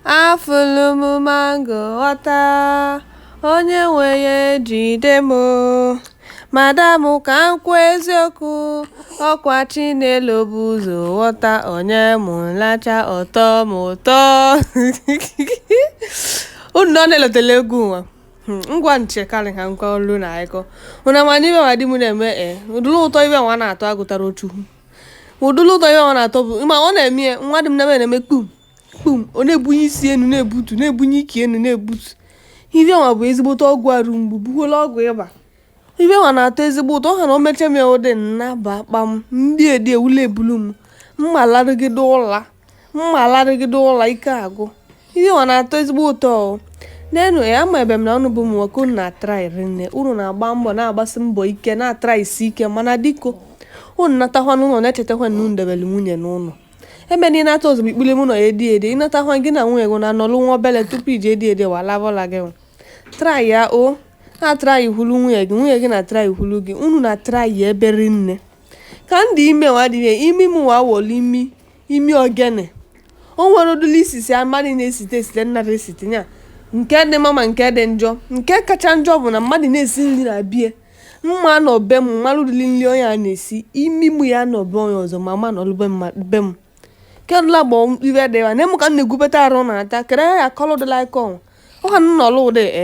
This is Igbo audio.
afụlụ m mango ghọta onye nwe ya ejide m madam ka m kwuo eziokwu ọkwa chinelo bu ụzọ ghọta o nye m lacha ọ tọ m ụtọ unu nọ na-elotela egwu nwa Hmm, ngwa nche karị ha nkwa olu na akụkọ ụna ma na ife nwa di m na-eme e ụdịrị ụtọ ife nwa na-atọ agụtara otu ụdịrị ụtọ ife nwa na-atọ bụ ma ọ na-eme ya nwa di m na-eme kpum kpum ọ na-ebunye isi enu na-ebutu na-ebunye ike enu na-ebutu ife nwa bụ ezigbote ọgwụ arụ mgbu bụkwala ọgwụ ịba ife nwa na-atọ ezigbo ụtọ ọ ha na o mecha m ya ụdị nnaba kpam ndị edi ewule ebulu m m ma larụgide ụla m ma larịgide ụla ike agụ ife nwa na-atọ ezigbo ụtọ n'enu ya ama ebe m na ụnụ bụ ụmụ nwoke unu na-atraị rinne unu na-agba mbọ na-agbasi mbọ ike na-atraị isi ike mana biko unu natakwa n'ụlọ na-echetakwa na unu debere nwunye n'ụlọ ebe na ị nata ozugbo ikpuli m ụlọ ya edi edi ị natakwa gị na nwunye gị na-anọlụ nwa obele tupu iji edi edi wa lavọla gị traị ya o na-atraị hụlu nwunye gị nwunye gị na-atraị hụlu gị unu na-atraị ya ebe rinne ka m dị ime nwa dị imi m nwa wọlụ imi imi ogene o nwere ụdịrị isisi mmadụ na-esite esite nnara esite ya nke dị mma ma nke dị njọ nke kacha njọ bụ na mmadụ na-esi nri na be ya m ma nọ be m m ma nụ ụdịrị nri onye a na-esi imi mụ ya nọ be onye ọzọ ma ma nọrụ be mma- be m kedụla gbọ ibe dị ya na ịmụ ka m na-egwupụta arụ na-ata kere ya akọlụ dịla ike ọnwụ ọ ka m nọrụ ụdị e